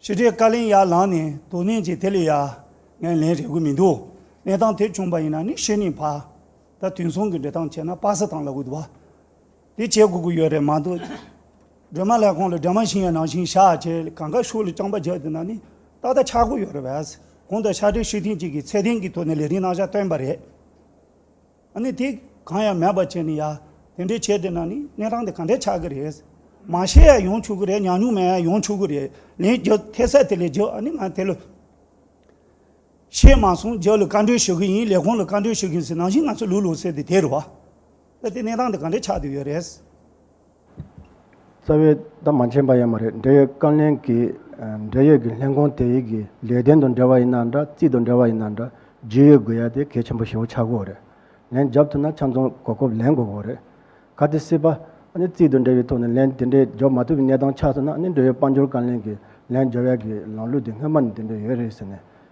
ཕྱི་དྲོའི་བཀའ་ལན་ཡར་ལངས་ནས་དོ་ནན་གྱིས་དེ་ལས་ཡར་ངས་ལན་རེག་གི་མི་འདུག་གནས་སྟངས་དེ་བྱུང་པ་ཡིན་ན་ནི་ཤེས་ནི་བ། ད་དུས་མཚུངས་ཀྱི་འབྲེལ་སྟངས་བྱས་ན་དཔག་ས་དང་ལ་དགོས་འདུག་བ། དེ་བྱེད་དགོས་ཀྱི་ཡོད་རེད་མ་གཏོགས། སྒྲོལ་མ་ལྷས་ཁང་ལ་སྒྲོལ་མ་ཤིང་ཡའི་ནང་བཞིན་ཤ་བྱས་གང་གཱ་ཤུག་ལ་རྐྱང་པ་རྒྱག་བསྡད་ན་ནི་ཏག་ཏག་ཆགས་དགོས་ཡོད་རེད་བས། གོང་དུ་ཤ་འབྲས་ཤིག་ཐེངས་གཅིག་གིས་ཚད་ལྡན་གྱི་ཐོག་ནས་ལས་རིན་གནང་བཞག་བཏོན་པ་རེད། ཨ་ནི་དེ་གང་ཡང་མེད་པར་བྱས་ནས་ཡ། དེ་འདྲའི་ཆས་དེ་ན་ནི་གནས་སྟངས་དེ་ག་འདྲས་ཆགས་ཀྱི་རེད། མ་ཤེས་ཡ་ཡོང་ཆོག་གི་རེད་ཉག་ཉུག་མ་ཡ་ཡོང་ཆོག་གི་རེད་ལན་རྒྱག་ཐལ་སད་དེ་ལས་རྒྱག་ཨ་ནི་ང་དེ་ལ། ཤེས་མ་སོང་རྒྱག་ལ་བཀའ་འདྲོལ་ཞུ་གི་ཡིན་ལས་ཁོང་ལ་བཀའ་འདྲོལ་ཞུ་གི་ཡིན་ཟེར་ནང་བཞིན་ང་ཚོ་ལུས་ལོག་ཟེར་དེ་དེར་བ། ད་དེ་གནས་སྟངས་དེ་ག་འདྲས་ཆགས་དུས་ཡོད་རེད། རྩ་བའི་བདག་མ་མཁྱེན་པ་ཡང་མ་རེད་འབྲེལ་ཡོད་བཀའ་ལན་གྱིས་འབྲེལ་ཡོད་ཀྱི་ལྷན་ཁང་དེ་ཡིག་གི་ལས་དོན་དང་འབྲེལ་བ་ཡིན་ན་འདྲ་རྩིས་དང་འབྲེལ་བ་ཡིན་ན་འདྲ་རྒྱུས་ཡོད་དགོས་ཡ་དེ་གལ་ཆེན་པོ་ཞེ་བོ་ཆགས་དགོས་རེད། ལན་རྒྱབ་ཐུབ་ན་ཆ་མཚུངས་གོ་སྐབས་ལེན་དགོས་དགོས་རེད། ག་དེ་སྲིད་པ་ཨ་ནི་རྩིས་དང་འབྲེལ་བའི་ཐོག་ནས་ལན་དེ་འདྲའི་རྒྱོབ་མ་ཐུབ་པའི་གནས་སྟངས་ཆགས་སོང་ན་ཨ་ནི་འབྲེལ་ཡོད་དཔལ་འབྱོར་བཀའ་ལན་གྱིས་ལན་རྒྱོབ་ཡ་གི་ལམ་ལུགས་དེ་སྔོན་མ་ནས་དེ་འདྲ་ཡོད་རེད་ཟེར་ནས་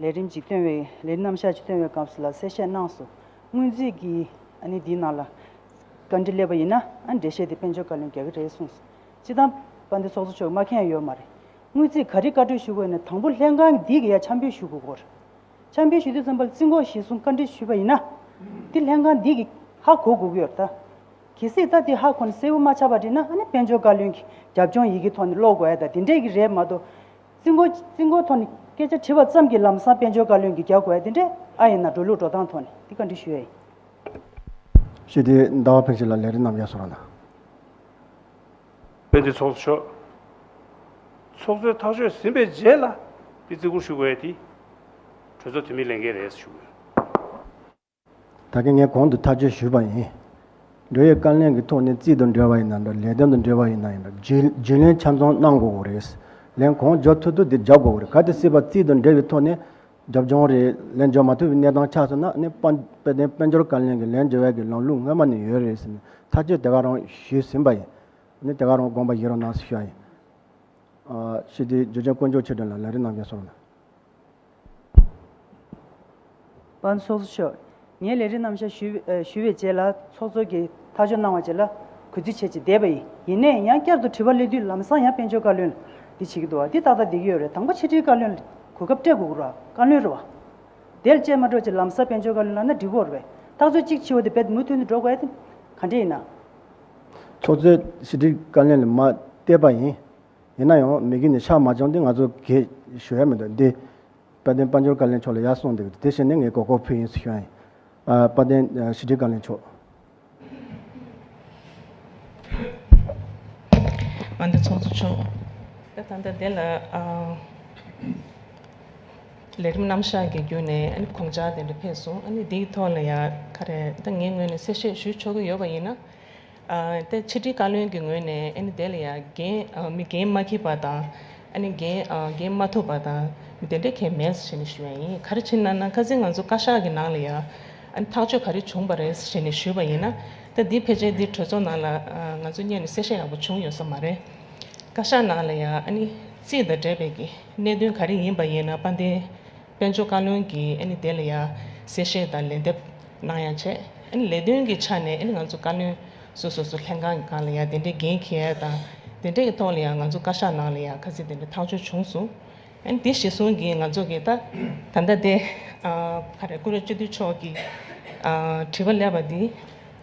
ལས་རིམ་གྱིས་སྟོན་བའི་ལས་རྣམ་གཞག་གི་སྟོན་བའི་སྐབས་སུ་ལ་གསལ་བཤད་གནང་སོ། སྔོན་རྩིས་ཀྱི་ནི་འདིའི་ནང་ལ། བཀའ་འདྲི་སླེབས་པ་ཡིན་ན་འགྲེལ་བཤད་དེ་དཔལ་འབྱོར་བཀའ་བློན་རྒྱ་གི་རེད་གསུངས་སོ། སྤྱི་དང། པ་འདི་ཚོགས་གཙོ་མཆོག་སྨྲ་མཁན་ཡོད་མ་རེད། སྔོན་རྩིས་ག་རི་བཀའ་འཁྲོལ་ཞུ་དགོས་ནས་དང་པོ་ལྷན་ཁང་འདི་གི་ཡ་འཆམ་འབུལ་ཞུ་དགོས་སྐོར། འཆམ་འབུལ་ཞུ་དུས་རྩོམ་པ་རྩིས་འགོ་གཞིས་གསུམ་བཀའ་འདྲི་ཞུས་པ་ཡིན་ན། འདི་ལྷན་ཁང་འདི་གི་ཧ་གོ་དགོས་ཀྱི་ཡོད་རེད་ད། གལ་སྲིད་ད་འདི་ཧ་གོ་ནས་གསལ་བོ་མ་ཆགས་པ་རེད་ན་ནི་དཔལ་འབྱོར་བཀའ་བློན་གྱི་རྒྱབ་ལྗོངས་ཡི་གེ་ཐོག་ནས་ཀློག་དགོས་ཨེ་ད་དེ་འདྲས་ཀྱི་རེད་མ་གཏོགས། རྩིས་འགོ་རྩིས་འགོ་ཐོག་ནས་སྐད་ཆ་དྲི་བ་ཙམ་གྱིས་ལམ་སང་དཔལ་འབྱོར་བཀའ་བློན་གྱིས་རྒྱག་དགོས་ཡ་དེ་འདྲས་ཨ་ཡིན་ན་འགྲོ་ལུགས་འགྲོ་སྟངས་ཐོག་ནས་དེ་བཀའ་འདྲི་ཞུ་ཡ་ཡིན། ཞེས་དེ་ཟླ་བ་ཕེབས་ཤིག་ལ་ལས་རེ་རྣམས་ཡག་བཟོ་རོགས་གནང། དཔེ་དེ་ཚོགས་གཙོ་མཆོག་ཚོགས་གཙོའི་ཐག་གཅོད་ཟིན་པའི་རྗེས་ལ་དཔེ་རྩིས་འགོར་ཞུ་དགོས་ཡ་དེ་གྲོས་ཚོགས་འཐུས་མིའི་ལས་འགན་རེད་ཟེར་ཞུ་དགོས། ད་གིན་ངས་གོང་དུ་ཐག་གཅོད་ཞུས་པ་ཡིན། འབྲེལ་ཡོད་བཀའ་ལན་གྱི་ཐོག་ནས་རྩིས་དང་འབྲེལ་བ་ཡིན་ན་འདྲ་ལས་དོན་དང་འབྲེལ་བ་ཡིན་ན་ཡིན་འདྲ་རྒྱུན་ལན་ཆ་མཚུངས་གནང་དགོས་དགོས་རེད། ལན་གོང་འཇོག་ཐུབ་ཐུབ་དེ་རྒྱག་དགོས་རེད་ག་དེ་སྲིད་བར་རྩིས་དང་འབྲེལ་བའི་ཐོག་ནས་རྒྱབ་ལྗོངས་རེད་ལན་འཇོག་མ་ཐུབ་པའི་གནས་སྟངས་ཆགས་སོང་ན་ནི་དཔལ་ལྡན་དཔལ་འབྱོར་བཀའ་ལན་གྱི་ལན་འཇོག་ཡག་གི་ལམ་ལུགས་སྔོན་མ་ནས་ཡོད་རེད་ཟེར་ནས་ཐག་གཅོད་དེ་ག་རང་ཞུས་ཟིན་པ་ཡིན། ནི་དེ་ག་རང་དགོངས་པ་བཞེས་རོགས་གནང་ཞུ་ཡ་ཡིན། ཤིས་ཏི་ཇོ་ཆེན་དཀོན་མཆོག་ཆེ་དྲན་ལ་ལན་རེ་གནང་གན་སོང། པ་ནི་སོགས་སུ་ཆོས། ངས་ལས་རིགས་རྣམ་བཞག་ཞུས་པའི་རྗེས་ལ་ཚོགས་གཙོ་གིས་ཐག་གཅོད་གནང་བ་བཅས་ལ་གུས་བརྩི་བྱས་རྗེས་བསྡད་པ་ཡིན། ཡིན་ནས་ཡང་བསྐྱར་དུ་དྲི་བ་གླེང་དུས་ལམ་སང་ཡང་དཔལ་འབྱོར་བཀའ་བློན་འདི་བྱེད་ཀྱི་འདུག་བ་འདི་ཏག་ཏག་འདེགས་ཀྱི་ཡོད་རེད་དང་པོ་ཕྱི་དྲིལ་བཀའ་བློན་གོ་སྐབས་སྤྲད་དགོས་ར་བཀའ་བློན་རེད་བ། དེར་བཅད་མ་འགྲོ་ཅིག་ལམ་སང་དཔལ་འབྱོར་བཀའ་བློན་ལ་ན་འགྲིག་གོ་ར་བས་ཐག་གཅོད་ཅིག་ཕྱི་བ་དེ་བས་མུ་མཐུད་ནས་འགྲོ་དགོས་ཨ་དེ་ག་འདྲས་ཡིན་ན། ཚོགས་གཙོས་ཕྱི་དྲིལ་བཀའ་བློན་ལ་མ་བལྟས་པ་ཡིན། ཡིན་ན་ཡང་མི་གིས་ནི་ཕྱག་མ་བཅང་སྟེ་ང་ཚོ་གས་ཞུ་ཡ་མི་འདུག་འདི། དཔལ་ལྡན་དཔལ་འབྱོར་བཀའ་ལན་མཆོག་ལ་ཡར་སོང་འདུག་དེ་བཞིན་ནི་ངའི་གོ་ཁོག་བུ་ཡིན་སི་ཤོན་ཡིན། དཔལ་ལྡན་ཞི་ཁྲི་བཀའ་ལན་མཆོག། དཔལ་ལྡན་ཚོགས་གཙོ་མཆོག་དཔལ་ལྡན་དཔལ་ལྡན་ལགས། ལས་རིམ་རྣམ་གཞག་གི་བརྒྱུད་ནས་དགོངས་འཆར་དེ་འདྲ་ཕེབས་སོང། འདིའི་ཐོག་ལ་ཡང་ཁ་རས་ད་ངའི་ངོས་ནས་གསལ་བཤད་ཞུ་ཆོག་གི་ཡོད་པ་ཡིན་ན། ཏེ། ཕྱི་དྲིལ་བཀའ་བློན་གྱི་ངོས་ནས་ཨ་ནི་དེ་ལ་ཡང་མི་འགན་མ་འཁྱེར་བ་དང། ཨ་ནི་འགན་མ་ཐོབ་པ་དང་དེ་འདྲའི་གལ་མེད་ཟེར་ནས་ཞུས་བ་ཡིན། ག་རེ་བྱེད་ན་ན་ག་ཚེ་ང་ཚོ་བཀའ་ཤག་གི་ནང་ལ་ཡང་ཨ་ནི་ཐག་གཅོད་ག་རེ་བྱུང་བ་རེད་ཟེར་ནས་ཞུས་པ་ཡིན་ན། ད་འདི་ཕལ་ཆེར་འདི་གྲོས་ཚོགས་ནང་ལ་ང་ཚོ་གཉེར་ནས་གསལ་བཤད་ཡག་པོ་བྱུང་ཡོད་ས་མ་རེད། བཀའ་ཤག་ནང་ལ་ཡང་ཨ་ནི་རྩིས་དང་འབྲེལ་བའི་གནད་དོན་ག་རེ་ཡིན་པ་ཡིན་ན་དཔལ་ལྡན། དཔལ་འབྱོར་བཀའ་བློན་གྱིས་དེ་ལ་ཡང་གསལ་བཤད་དང་ལན་འདེབས་གནང་ཡང་བྱས། ལས་དོན་གྱི་ཆ་ནས་ང་ཚོ་བཀའ་བློན་སོ་སོ་སོ་ལྷན་ཁང་གི་ཁང་ལ་ཡང་དེ་འདྲའི་འགན་ཁྱེར་དང་དེ་འདྲའི་ཐོག་ལ་ཡང་ང་ཚོ་བཀའ་ཤག་ནང་ལ་ཡང་ཁ་ཚིག་དེ་འདྲ་ཐག་གཅོད་བྱུང་སོང། དེ་གཞི་བཟུང་གིས་ང་ཚོ་གིས་ད་ལྟ་དེ། ཀུ་རེ་བཅུ་དུས་མཆོག་གིས་དྲི་བ་སླེབས་པ་འདི།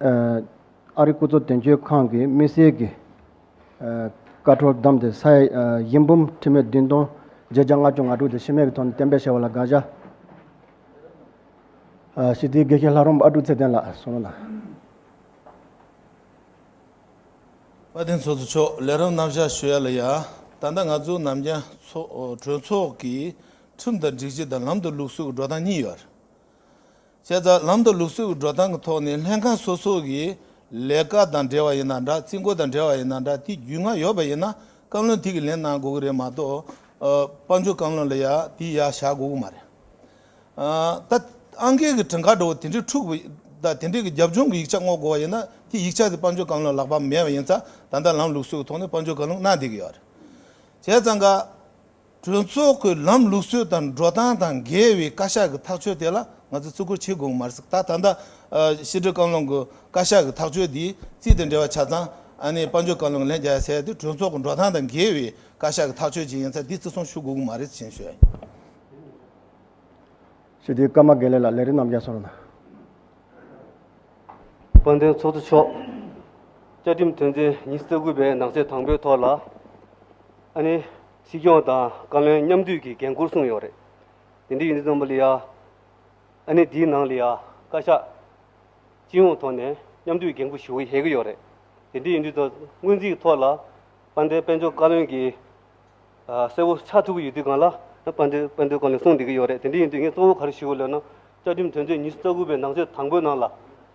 ཨ་རིའི་སྐུ་ཚབ་དོན་གཅོད་ཁང་གིས་དམིགས་བསལ་གྱི་ཀ་ཁྲོལ་བདམས་ཏེ་ས་ཡི་འབུམ་ཁྲི་མའི་བདུན་སྟོང་བརྒྱད་བརྒྱ་ལྔ་བཅུ་ང་དྲུག་དེ་ཤི་རྨས་ཀྱི་ཐོག་ནས་གཏན་འབེབས་བྱས་པ་ལ་དགག་བྱ། ཞི་བདེའི་དགེ་རྒན་ལྷ་རོམ་ཨ་ཀྲུག་ཚེ་བརྟན་ལགས་སུ་གནང་དང། བཀའ་བསྟན་ཚོགས་གཙོ་མཆོག་ལས་རབ་རྣམ་བཞག་ཞུ་ཡ་ལ་ཡ། ད་ལྟ་ང་ཚོ་ནམ་རྒྱན་གྲོས་ཚོགས་ཀྱིས་ཁྲིམས་དང་སྒྲིག་གཞི་དང་ལམ་དུ་ལུགས་སུ་འགྲོ་སྟངས་གཉིས་ཡོད། བྱས་ཙང་ལམ་དང་ལུགས་སྲོལ་གྱི་འགྲོ་སྟངས་ཀྱི་ཐོག་ནས་ལྷན་ཁང་སོ་སོ་གྱི་ལས་ཀ་དང་འབྲེལ་བ་ཡིན་ན་འདྲ་རྩིས་འགོ་དང་འབྲེལ་བ་ཡིན་ན་འདྲ་དེ་རྒྱུས་མངའ་ཡོད་པ་ཡིན་ན་བཀའ་བློན་དེ་གི་ལན་གནང་དགོས་ཀྱི་རེད་མ་གཏོགས་དཔའ་མཆོག་བཀའ་བློན་ལ་ཡ་དེ་ཡ་བྱ་དགོས་ཀྱི་མ་རེད། ད་ཨང་ཀེ་གི་བྲིན་ཁ་འདྲ་བོ་དེ་འདྲས་འཁྲུག་ད་དེ་འདྲས་ཀྱི་རྒྱབ་ལྗོངས་ཀྱི་ཡིག་ཆ་བསྔོག་དགོས་བ་ཡིན་ན་དེ་ཡིག་ཆ་དེ་དཔའ་མཆོག་བཀའ་བློན་ལག་པ་མེད་བ་ཡིན་ཙང་ད་ལྟ་ལམ་ལུགས་སྲོལ་གྱི་ཐོག་ནས་དཔའ་མཆོག་བཀའ་བློན་གནང་བསྡད་ཀྱི་ཡོད་རེད། བྱས་ཙང་ག། གྲོས་ཚོགས་ཀྱི་ལམ་ལུགས་སྲོལ་དང་འགྲོ་སྟངས་དང་འགལ་བའི་བཀའ་ཤག་གི་ཐག་གཅོད་དེ་ལ་ང་ཚོས་བརྩི་བཀུར་བྱེད་དགོས་མ་རེད་ད་ད་ལྟ། ཕྱི་དྲིལ་བཀའ་བློན་གྱི་བཀའ་ཤག་གི་ཐག་གཅོད་དེའི་རྩིས་དང་འབྲེལ་བ་ཆ་ཚང་ཨ་ནེ་དཔལ་འབྱོར་བཀའ་བློན་གྱི་ལན་བརྒྱ་ཟེར་དེ་གྲོས་ཚོགས་ཀྱི་འགྲོ་སྟངས་དང་འགལ་བའི་བཀའ་ཤག་གི་ཐག་གཅོད་ཅིག་ཡིན་ཚ་དེ་བརྩི་སྲུང་ཞུ་དགོས་ཀྱི་མ་རེད་ཅེས་བཤད། ཞེས་དེའི་བཀའ་མ་དགེ་ལེགས་ལ་ལན་རེ་ནམ་བརྒྱ་གསོལ། དཔལ་ལྡན་ཚོགས་གཙོ་མཆོག། བཅའ་ཁྲིམས་དོན་ཚན་ཉིས་བརྩེགས་དགུ་པའི་ནང་གསེས་དང་པོའི་ཐོག་ལ། ཨ་ནི། སྲིད་སྐྱོང་དང་བཀའ་བློན་མཉམ་འདུས་ཀྱི་འགན་ཁུར་གསུངས་ཡོད་རེད། དེ་འདྲ་ཡིན་ཙང་པ་ལི་ཡ། ཨ་ནི་དེའི་ནང་ལི་ཡ། བཀའ་ཤག། སྤྱི་ཡོངས་ཐོག་ནས་མཉམ་འདུས་འགན་ཁུར་ཞུ་གི་ཧེ་གི་ཡོད་རེད། དེ་འདྲ་ཡིན་དུས་ད་སྔོན་རྩིས་ཐོག་ལ། དཔལ་ལྡན་དཔལ་འབྱོར་བཀའ་བློན་གྱིས། གསལ་བོ་ཆགས་ཐུབ་ཀྱི་ཡོད་དུས་གང་ལ། དཔལ་ལྡན་དཔལ་འབྱོར་བཀའ་བློན་གསུངས་བསྡད་ཀྱི་ཡོད་རེད་དེ་འདྲ་ཡིན་དུས་ངས་གཙོ་བོ་ག་རེ་ཞུ་གི་ལོས་ན། བཅའ་ཁྲིམས་དོན་ཚན་ཉི་ཤུ་རྩ་དགུ་པའི་ནང་ཆོས་དང་པོའི་ནང་ལ།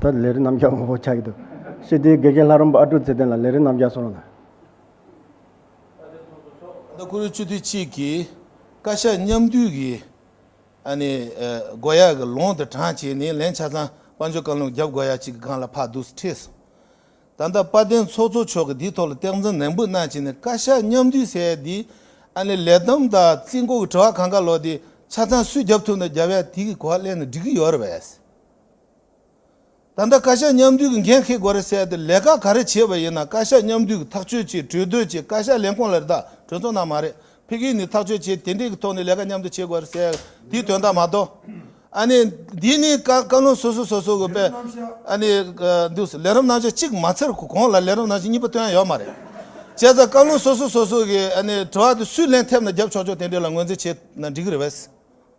ད་ལས་རི་རྣམ་རྒྱལ་ངོ་བོ་ཆགས་ཀྱི་འདུག་ཤེས་ལྡན་དགེ་རྒན་ལྷ་རོམ་པ་ཨ་ཀྲུག་ཚེ་བརྟན་ལ་ལས་རི་རྣམ་རྒྱལ་གསུངས་རོགས་གནང། ཟླ་དགུ་རུ་བཅུ་དུས་གཅིག་གི་བཀའ་ཤག་མཉམ་འདུས་ཀྱི་སྒོ་ཡག་གི་ལོང་དུ་དྲངས་བྱས་ནས་ལན་ཆ་ཚང་དཔའ་འཇོ་བཀའ་ལུང་རྒྱབ་སྒོ་ཡག་གཅིག་གི་སྒང་ལ་ཕག་གདུགས་སུ་ཁྲིད་སོང། ད་ལྟ་དཔལ་ལྡན་ཚོགས་གཙོ་མཆོག་གིས་འདིའི་ཐོག་ལ་སྟེགས་འཛིན་ནན་པོ་གནང་བྱས་ནས་བཀའ་ཤག་མཉམ་འདུས་སའི་འདིའི་ལས་བསྡོམས་དང་རྩིས་འགོ་གི་དྲི་བ་གང་ག་ལོག་དེ་ཆ་ཚང་སུས་རྒྱབ་ཐུབ་ན་རྒྱབ་ཡ་དེ་གི་གོ་བ་གླེང་ནས་འགྲིག་གི་ཡོད་རེད་བས། ད་ལྟ་བཀའ་ཤག་མཉམ་འདུས་ཀྱི་འགན་འཁེལ་དགོས་རེད་ཟེར་ཡ་དེ་ལས་ཀ་ག་རེ་བྱས་པ་ཡིན་ན་བཀའ་ཤག་མཉམ་འདུས་ཀྱི་ཐག་གཅོད་ཆེད་གྲོས་བསྡུར་ཆེད་བཀའ་ཤག་ལས་ཁུངས་ལ་རེ་ད་གྲོས་ཚོགས་ནང་མ་རེད་ཕི་གིའི་ནི་ཐག་གཅོད་ཆེད་དེ་འདྲས་ཀྱི་ཐོག་ནས་ལས་ཀ་མཉམ་དུ་བྱེད་དགོས་རེད་ཟེར་ཡ་དེའི་དོན་དག་མ་གཏོགས། ཨ་ནི་འདི་ནི་བཀའ་བློན་སོ་སོ་སོ་སོ་གི་པས་ཨ་ནི་འདུག་ཟེར་ལས་རོམ་ནང་ཆ་གཅིག་མ་ཚར་གོང་ལ་ལས་རོམ་ནང་ཆ་གཉིས་པ་བཏོན་ཡ་ཡོད་མ་རེད། བྱས་ཙང་བཀའ་བློན་སོ་སོ་སོ་སོ་གི་ཨ་ནི་དྲི་བ་དེ་སུས་ལན་ཐེབས་ན་རྒྱབ་ཆོག་ཆོག་དེ་འདྲས་ལ་ངོས་འཛིན་བྱས་ན་འགྲིག་གི་རེད་བས།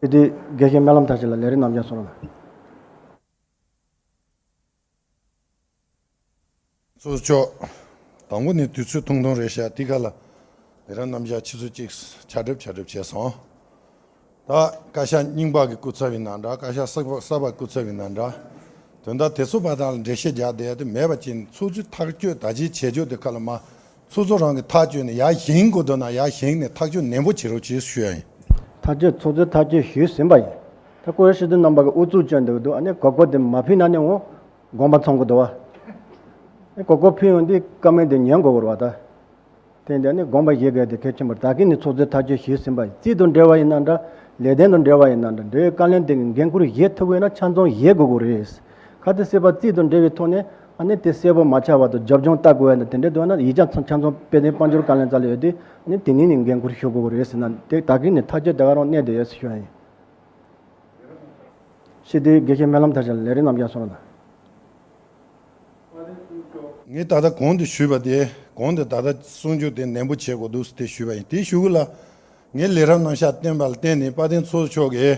དེ་དུས་དགེ་རྒན་སྨན་ལམ་དར་ཅིག་ལ་ལས་རིགས་རྣམ་གཞག་སོགས་ལ། གཙོ་ཆོག། དང་པོ་ནས་དུས་ཚོད་ཐུང་ཐུང་རེ་བཤད་དེ་ག་ལ། ལས་རང་རྣམ་གཞག་ཕྱི་ཚུལ་གཅིག་ཕྱག་སྒྲིབ་ཕྱག་སྒྲིབ་བྱས་སོང། ད་བཀའ་ཤག་རྙིང་པ་གི་སྐུ་ཚབ་ཡིན་ན་འདྲ་བཀའ་ཤག་གསར་པ་སྐུ་ཚབ་ཡིན་ན་འདྲ། དོན་དག་དེ་ཚོ་བ་དག་ལ་འགྲེལ་བཤད་རྒྱག་བསྡད་དེ་མེད་པ་ཅི་འཚོལ་ཚུལ་ཐག་གཅོད་ད་ཅིའི་བྱེད་སྤྱོད་དེ་ག་ལ་མ་ཚོགས་གཙོ་རང་གིས་ཐག་གཅོད་ནས་ཡར་བཞེངས་དགོས་འདོད་ན་ཡར་བཞེངས་ནས་ཐག་གཅོད་ནན་པོ་བྱེད་རོགས་ཞེས་ཞུ་ཡ་ཡིན། ཐག་གཅོད་ཚོགས་གཙོས་ཐག་གཅོད་ཞུས་ཟིན་པ་ཡིན། ད་སྐུ་ཡང་ཕྱི་དོན་རྣམ་པ་གི་ཨུ་ཚུགས་སྤྱོད་འདོད་འདུག་ཨ་ནི་གོ་གོ་དེ་མ་ཕུལ་ན་ནི་འོང། དགོངས་པ་ཚང་གོ་དོ། ཨ་ནི་གོ་གོ་ཕུལ་ཡོང་དུས་བཀའ་མོལ་དེ་ཉན་གོ་བོར་བ་ད། དེ་འདི་ཨ་ནི་དགོངས་པ་བཞེས་གལ་དེ་གལ་ཆེན་པོར་ད་གིན་ནི་ཚོགས་གཙོས་ཐག་གཅོད་ཞུས་ཟིན་པ་ཡིན་རྩིས་དང་འབྲེལ་བ་ཡིན་ན་འདྲ། ལས་དོན་དང་འབྲེལ་བ་ཡིན་ན་འདྲ་འབྲེལ་ཡོད་བཀའ་ལན་དེ་གི་འགན་འཁུར་བཞེས་ཐུབ་འོས་ན་ཆ་འཛོམས་བཞེས་དགོས་གོ་རེད། ཁ་ཏི་སྲིད་པ་རྩིས་དང་འབྲེལ་བའི་ཐོག་ནས། ཨ་ནི་དེ་གསལ་པོ་མ་ཆགས་བར་དུ་སྦྱོར་སྦྱོང་ལྟ་དགོས་ཡ་ད་དེ་འདྲ་འདུག་ན་ཡིག་ཆ་ཆ་ཚང་དཔེ་ལྡན་དཔལ་འབྱོར་བཀའ་ལན་རྩ་ལེ་ཡོད་དེ་ནི་དེ་ཉིད་ནས་འགན་འཁུར་ཞུ་དགོས་པ་རེད་ཟེར་ན་དེ་ད་གིན་ནས་ཐག་གཅོད་དེ་ག་རང་གནས་དེ་ཡོད་ཟེར་ཞུ་ཡ་ཡིན། ཤེས་བདེའི་དགེ་བཤེས་སྨོན་ལམ་ཐར་ཞལ་ལས་རིགས་རྣམ་རྒྱལ་སོགས་དང། ངས་ད་ལྟ་གོང་དུ་ཞུས་པ་དེ་གོང་དུ་ད་ལྟ་གསུང་ཆོས་དེ་ནན་པོ་བྱེད་དགོས་འདུག་ཟེར་དེ་ཞུས་པ་ཡིན་དེ་ཞུ་གི་ལ། ངས་ལས་རབ་རྣམ་ཤ་བསྟན་པ་ལ་བརྟེན་ནས་དཔལ་ལྡན་ཚོགས་མཆོག་གིས་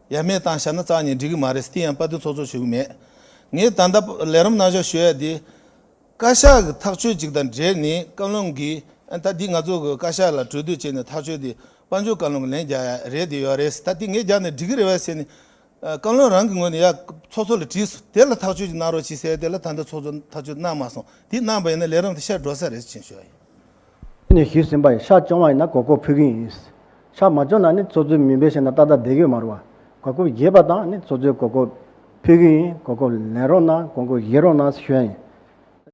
ཡ་མེད་བཏང་ཤག་ན་ཙག་ཉིད་འགྲིག་གི་མ་རེད་སྟི་ཡང་དཔའ་རྟུལ་ཚོགས་ཚོགས་བྱེད་གི་མེད། ངས་ད་ལྟ་ལས་རོམ་གནང་ཤོག་ཞུ་ཡ་དེ། བཀའ་ཤག་གི་ཐག་གཅོད་ཅིག་དང་འབྲེལ་ནི་བཀའ་བློན་གྱིས་ཨན་ད་དེ་ང་ཚོ་གི་བཀའ་ཤག་ལ་གྲོས་བསྡུར་བྱས་ནས་ཐག་གཅོད་དེ་དཔའ་འབྱོར་བཀའ་བློན་གྱི་ལན་རྒྱག་ཡ་རེད་དེ་ཡོད་རེད་ད་དེ་ངས་རྒྱག་ནས་འགྲིག་གི་རེད་བས་ཟེར་ནས། བཀའ་བློན་རང་གི་ངོས་ནས་ཡ། ཚོགས་གཙོ་ལ་དྲིས་སོ་དེ་ལ་ཐག་གཅོད་ཅིག་གནང་རོགས་ཅིག་ཟེར་དེ་ལ་ད་ལྟ་ཚོགས་གཙོ་ཐག་གཅོད་གནང་མ་སོང་དེ་གནང་བ་ཡིན་ན་ལས་རོམ་དེ་ཤར་འགྲོ་ས་རེད་ཅེས་བཤད་ཡོད། ཁྱེད་ནས་ཞུས་ཟིན་པ་ཡིན་ཤག་སྤྱོང་བ་ཡིན་ན་གོ་སྐོར་ཕུལ་གི་ཡིན། ཤག་མ་སྤྱོང་ན་ནི་ཚོགས་གཙོའི་མིང་འབོད་བྱས་ན་ཏག་ཏག་བསྡད་གི་མ་རུང་བ། གོ་སྐོར་བརྒྱད་པ་དང་ནི་ཚོགས་གཙོའི་གོ་སྐོར་ཕུལ་གི་ཡིན་གོ་སྐོར་ལེན་རོགས་གནང་གོ་སྐོར་བཞེས་རོགས་གནང་ཞུས་ཡ་ཡིན།